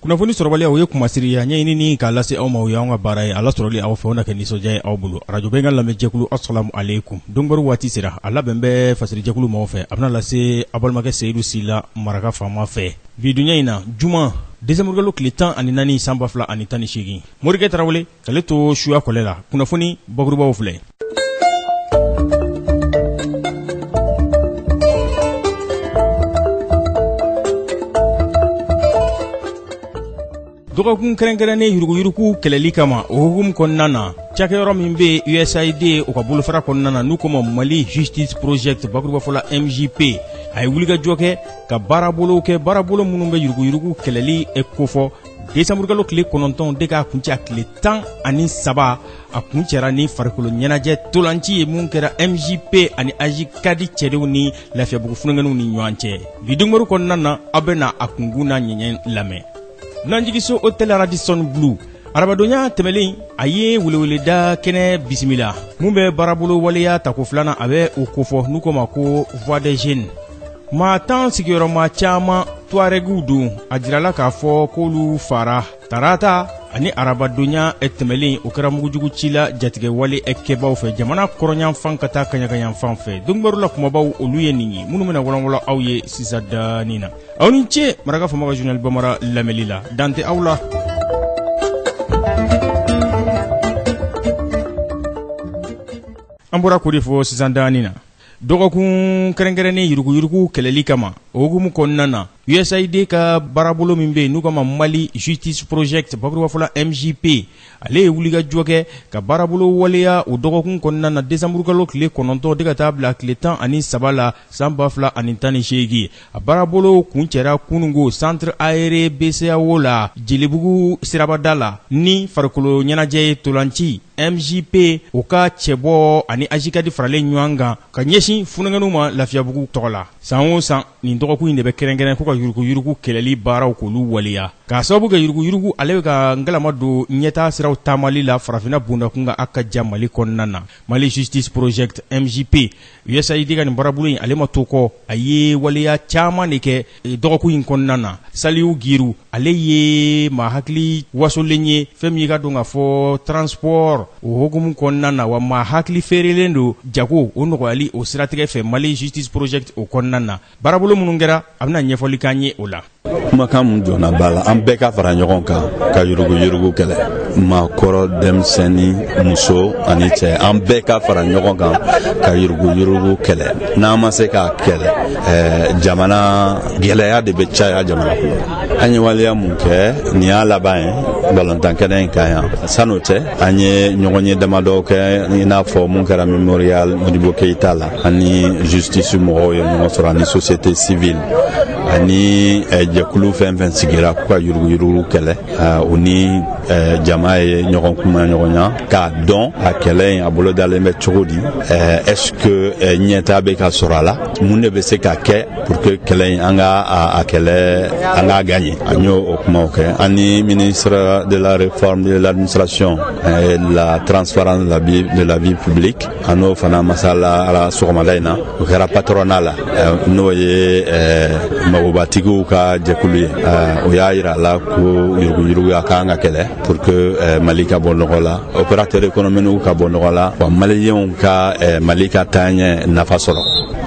kunnafoni sɔrɔbaliya o ye kunmasiri ye a ɲɛɲinini k'a lase aw ma o y'anw ka baara ye a lasɔrɔli aw fɛ o na kɛ nisɔndiya ye aw bolo arajo bɛnkan lamɛnjɛkulu asalamu aleykum donbaro waati sera a labɛn bɛ fasirijɛkulu maaw fɛ a bɛna lase aw balimakɛ seyidu sila maraka faama fɛ bi donya in na juma desanburukalo tile tan ani naani san ba fila ani tan ni seegin morikɛ tarawele k'ale to suya kɔlɛ la kunnafoni bakurubaww filɛ dɔgɔkun kɛrɛnkɛrɛnnen yuruguyurugu kɛlɛli kama o hukumu kɔnɔna na cakɛyɔrɔ min bɛ usaid o ka bolofara kɔnɔna na n'u ko ma mali justice project bakurubafɔla mjp a ye wulikajɔ kɛ ka baarabolow kɛ baarabolo minnu bɛ yuruguyurugu kɛlɛli kofɔ Desanburukalo tile kɔnɔntɔn de k'a kuncɛ tile tan ani saba a kuncɛra ni farikolo ɲɛnajɛ ntolanci ye min kɛra MJP ani AJCAD cɛdenw ni lafiyabugu funankɛninw ni ɲɔgɔn cɛ bi donbaro kɔnɔna na aw bɛna a kunkun n'a ɲɛɲɛ lamɛn dunanjigiso hôtel Radisson Blu arabadonya tɛmɛlen a ye weleweleda kɛnɛ bisimila min bɛ baarabolo waleya tako filanan a bɛ o kofɔ n'u ko ma ko voix des jeunes maa tan sigiyɔrɔma caman tuarɛgiw don a jirala k'a fɔ k'olu fara tarata ani arabadonya tɛmɛlen o kɛra mugujugu ci la jatigɛwale kɛbaw fɛ jamana kɔrɔnyanfan ka taa kaɲagayanfan fɛ donbaro la kumabaw olu ye nin ye minnu bɛna wɔlɔnwɔlɔn aw ye sisan dani na aw ni ce maraka faama ka journal bamara lamɛli la dan tɛ aw la an bɔra k'o de fɔ sisan dani na Dɔgɔkun kɛrɛnkɛrɛnnen yuruguyurugu kɛlɛli kama o hukumu kɔnɔna na USAID ka baarabolo min bɛ yen n'u k'a ma Mali Justice Project bakurubafɔ la MJP ale ye wulikajɔ kɛ ka baarabolo waleya o dɔgɔkun kɔnɔna na desanburukalo tile kɔnɔntɔn de ka taa bila tile tan ani saba la san ba fila ani tan ni seegin a baarabolo kuncɛra kununko centre aéré bceao la jelibugu sirabada la ni farikolo ɲɛnajɛ ye ntolanci mjp o ka cɛbɔ ani ajcad faralen ɲɔgɔn kan ka ɲɛsin funankɛninw ma lafiyabugu tɔgɔ la san o san nin dɔgɔkun in de bɛ kɛrɛnkɛrɛn ko ka yuruguyurugu kɛlɛli baaraw k'olu waleya k'a sababu kɛ yuruguyurugu ale bɛ ka ngalama don ɲɛtaa siraw taamali la farafinna bondakun kan a ka jan mali kɔnɔna na Mali justice project MJP USAID ka nin baarabolo in ale ma to kɔ, a ye waleya caman de kɛ dɔgɔkun in kɔnɔna na. Saliu Giru ale ye maa hakili wasolen ye fɛn min ye i k'a dɔn k'a fɔ transport o hukumu kɔnɔna na, wa maa hakili feerelen don jago o nɔgɔyali o siratigɛ fɛ Mali justice project o kɔnɔna na. Baarabolo minnu kɛra, a bɛna ɲɛfɔli k'an ye o la. kumakan mun jɔna b'a la an bɛɛ ka fara ɲɔgɔn kan ka yuruguyurugu kɛlɛ maakɔrɔ denmisɛnni muso ani cɛ an bɛɛ ka fara ɲɔgɔn kan ka yuruguyurugu kɛlɛ n'an ma se k'a kɛlɛ eh, jamana gɛlɛya de bɛ caya jamana kɔnɔ an ye waleya mun kɛ nin y'a laban ye balontan kɛnɛ in kan yan san'o cɛ an ye ɲɔgɔnye damadɔ kɛ i n'a fɔ mun kɛra memorial modibo keyita la ani justice mɔgɔw ye ɲɔgɔn sɔrɔ ani société civile ani eh, jɛkulu fɛn fɛn sigira k'u ka yuruguyurugu kɛlɛ eh, u ni eh, jama ye ɲɔgɔn kumaɲɔgɔnya k'a dɔn a kɛlɛ in a bolodalen bɛ cogo di est ce que ɲɛtaa bɛ ka sɔrɔ a la mun de bɛ se ka kɛ pour que kɛlɛ in an ka a kɛlɛ an k'a gaɲe an y'o o kumaw kɛ an ni ministre de la réforme de l'administration et de la transparence de la vie publique an n'o fana masalala sɔgɔmada in na o kɛra patronat la n'o ye magobatigiw ka jɛkulu ye o y'a yira a la ko yuruguyurugu a kan ka kɛlɛ pour que mali ka bɔ nɔgɔ la opérateur économique ka bɔ nɔgɔ la wa maliyɛnw ka mali ka taaɲɛ nafa sɔrɔ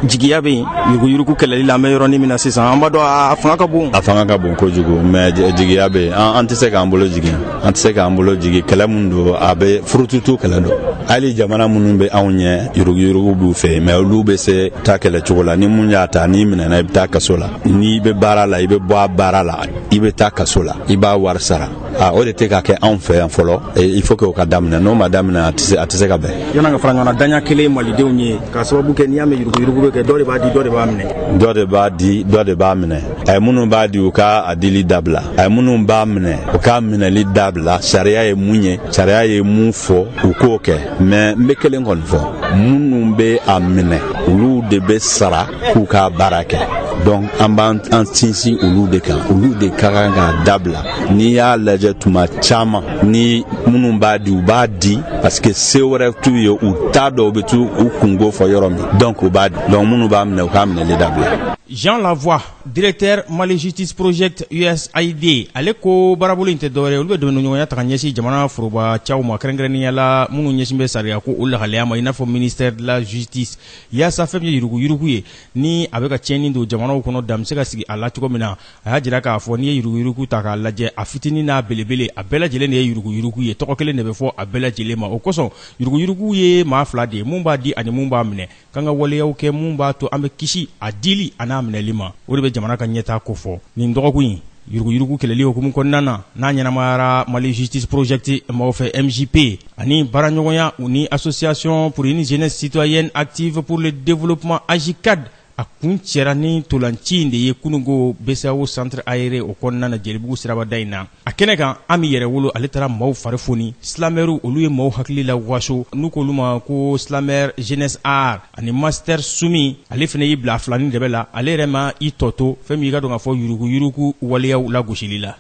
jigiya bɛ yen yuruguyurugu kɛlɛli la an bɛ yɔrɔnin min na sisan an b'a dɔn a fanga ka bon a fanga ka bon kojugu mais jigiya bɛ yen an tɛ se k'an bolo jigin an tɛ se k'an bolo jigin kɛlɛ min don a bɛ furututu kɛlɛ don hali jamana minnu bɛ anw ɲɛ yuruguyurugu b'u fɛ mais olu bɛ se ta kɛlɛ cogo la ni mun y'a ta n'i minɛna i bɛ taa kaso la n'i bɛ baara la i bɛ bɔ a baara la i bɛ taa kaso la i b'a wari sara o de tɛ ka kɛ anw fɛ yan fɔlɔ il faut que o ka daminɛ n'o ma daminɛ a tɛ se a tɛ se ka bɛn yann'an ka fara ɲɔgɔn na daɲɛ kelen malidenw ye k'a sababu kɛ n'i y'a mɛn yuruguyurugu bɛ kɛ dɔ de b'a di dɔ de b'a minɛ dɔ de b'a di dɔ de b'a minɛ a ye minnu b'a di u ka a dili dabila a ye minnu b'a minɛ u k'a minɛli dabila sariya ye mun ye sariya ye mun fɔ u k'o kɛ mais n be kelen kɔni fɔ minnu be a minɛ olu de be sara k'u k'a baara kɛ donc an b'an sinsin olu de kan olu de ka kan k'a dabila n'i y'a lajɛ tuma caman ni minnu b'a di u b'a di parce que se wɛrɛ t'u ye u t'a dɔn u be t'u kunko fɔ yɔrɔ min donc u b'a di donc minnu b'a minɛ u k'a minɛli dabila Jean Lavoie directeur Mali Justice Project USAID ale ko baarabolo in tɛ dɔwɛrɛ olu bɛ dɛmɛɲɔgɔnya ta ka ɲɛsin jamana foroba cɛw ma kɛrɛnkɛrɛnnenya la minnu ɲɛsin bɛ sariya kow lahalaya ma i n'a fɔ ministère de la justice yaasa fɛn min ye yuruguyurugu ye ni a bɛ ka tiɲɛni don jamanaw kɔnɔ dan bɛ se ka sigi a la cogo min na a y'a jira k'a fɔ n'i ye yuruguyurugu ta k'a lajɛ a fitinin n'a belebele a bɛɛ lajɛlen de ye yuruguyurugu ye tɔgɔ kelen de bɛ fɔ a bɛɛ lajɛlen ma o kosɔn yuruguyurugu ye maa fila de ye minnu b'a di ani minnu b'a minɛ k'an ka waleyaw kɛ mun b'a to an bɛ kisi a dili an'a minɛli ma o de bɛ jamana ka ɲɛtaa kofɔ nin dɔgɔkun in yuruguyurugu kɛlɛli hukumu kɔnɔna na n'a ɲɛnamayara mali justice project maaw fɛ mjp ani baaraɲɔgɔnya u ni association pour une jeunesse citoyenne active pour le développement ajicad a kuncɛra ni ntolanci in de ye kunungo bceao centre aéré o kɔnɔna na jelibugu sirabada in na A kɛnɛ kan Ami Yɛrɛwolo ale taara maaw fari foni silamɛriw olu ye maaw hakili la waso n'u k'olu ma ko slameur Jeuness'Art ani Master Soumy ale fana y'i bila filanin dɛmɛ la ale yɛrɛ ma i tɔ to fɛn min y'i k'a dɔn k'a fɔ yuruguyurugu waleyaw lagosili la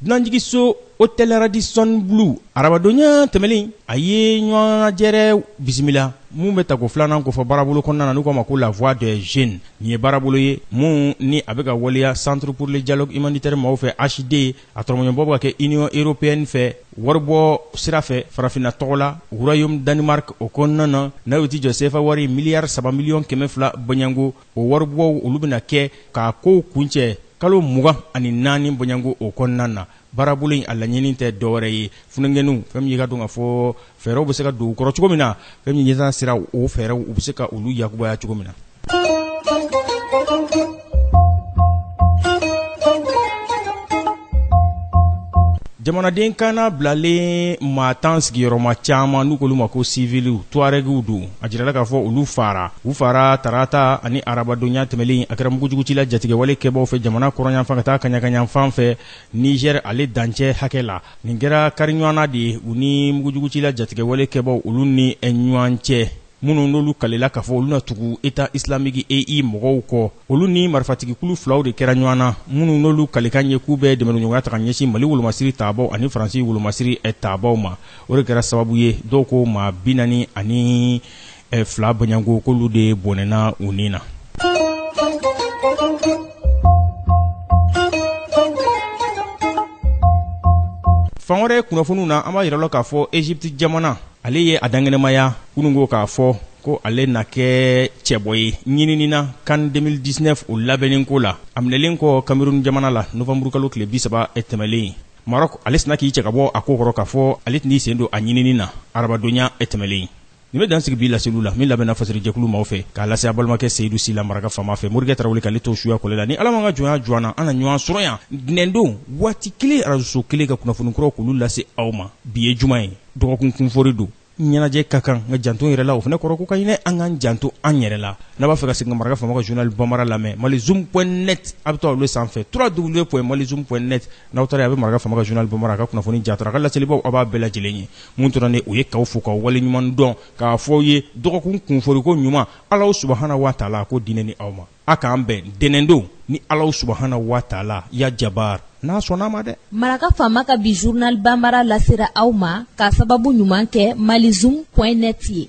dunanjiginso hôtel Radisson Blu arabadonya tɛmɛlen a ye ɲɔgɔnjɛrɛ bisimila Min bɛ tako filanan kofɔ baarabolo kɔnɔna na n'u k'a ma ko la voix des jeunes nin ye baarabolo ye min ni a bɛ ka waleya centre pour le dialogue humanitaire maaw fɛ HD a tɔrɔmɔɲɔbɔ bɛ ka kɛ Union européenne fɛ waribɔ sira fɛ farafinna tɔgɔ la royaume Danemark o kɔnɔna na n'a y'o tɛ jɔ sefa wari miliyari saba miliyɔn kɛmɛ fila bɔɲɔgɔnko o waribɔ olu bɛna kɛ k'a kow kuncɛ kalo mugan ani naani bɔɲɔgɔnko o kɔnɔna na Baarabolo in a laɲini tɛ dɔwɛrɛ ye funankɛninw fɛn min y'i k'a dɔn k'a fɔ fɛɛrɛw bɛ se ka don u kɔrɔ cogo min na fɛn min ɲɛtaa sira o fɛɛrɛw u bɛ se ka olu yakubaya cogo min na jamanaden kan bilalen maa tan sigiyɔrɔma caman n'u k'olu ma ko civilw touaregw don a jirala k'a fɔ olu faara u faara tarata ani arabadonya tɛmɛlen a kɛra mugujugucila jatigɛwale kɛbaaw fɛ jamana kɔrɔnyanfan ka taa kaɲakayanfan fɛ Niger ale dancɛ hakɛ la, nin kɛra kariɲɔgɔnna de ye u ni mugujugucila jatigɛwale kɛbaaw olu ni ɲɔgɔn cɛ, minnu n'olu kalila k'a fɔ olu na tugu Etat islamique, EI, mɔgɔw kɔ. Olu ni marifatigikulu filaw de kɛra ɲɔgɔn na, minnu n'olu kalikan ye k'u bɛ dɛmɛdonɲɔgɔnya ta ka ɲɛsin Mali wolomasiri tabaaw ani Faransi wolomasiri tabaaw ma. O de kɛra sababu ye dɔw ko maa 40 ani ɛ fila bɔɲɔgɔnko k'olu de bɔnɛna u ni na fan wɛrɛ kunnafoniw na an b'a yira a la k'a fɔ egypte jamana ale ye a dankɛnɛmaya kunungo k'a fɔ ko ale na kɛ cɛbɔ ye ɲinini na CAN 2019 o labɛnnen ko la a minɛlen kɔ cameroun jamana la novanburu kalo tile bisaba tɛmɛlen maroc ale sinna k'i cɛ ka bɔ a ko kɔrɔ k'a fɔ ale tɛn'i sen don a ɲinini na arabadonya tɛmɛlen nin bɛ dan sigi bi laseliw la min labɛnna fasiri jɛkulu maaw fɛ k'a lase a balimakɛ seyidu sila maraka faama fɛ morikɛ tarawele k'ale to suya kɔlɛ la ni ala m'an ka jɔnya jɔ an na an na ɲɔgɔn sɔrɔ yan ntɛnɛndon waati kelen arajoso kelen ka kunnafoni kuraw k'olu lase aw ma bi ye juma ye dɔgɔkun kunfori don ɲɛnajɛ ka kan nka janto yɛrɛ la o fana kɔrɔ ko ka ɲinɛ an k'an janto an yɛrɛ la n'a b'a fɛ ka segin ka maraka faama ka journal bamara lamɛn malizoom point net a bɛ taa olu sanfɛ www point malizoom point net n'aw taara a bɛ maraka faama ka journal banbara a ka kunnafoni jatara a ka laselibaw aw b'a bɛɛ lajɛlen ye mun tora ne o ye k'aw fo k'aw wale ɲuman dɔn k'a fɔ aw ye dɔgɔkun kunforiko ɲuman Alahu subahana wataala a k'o di ne ni aw ma a k'an bɛn ntɛnɛndon ni Alahu subahana wataala ya jabaar n'a sɔnn'a ma dɛ. Maraka faama ka bi journal banbara lasera aw ma k'a sababu ɲuman kɛ malizoom point net ye.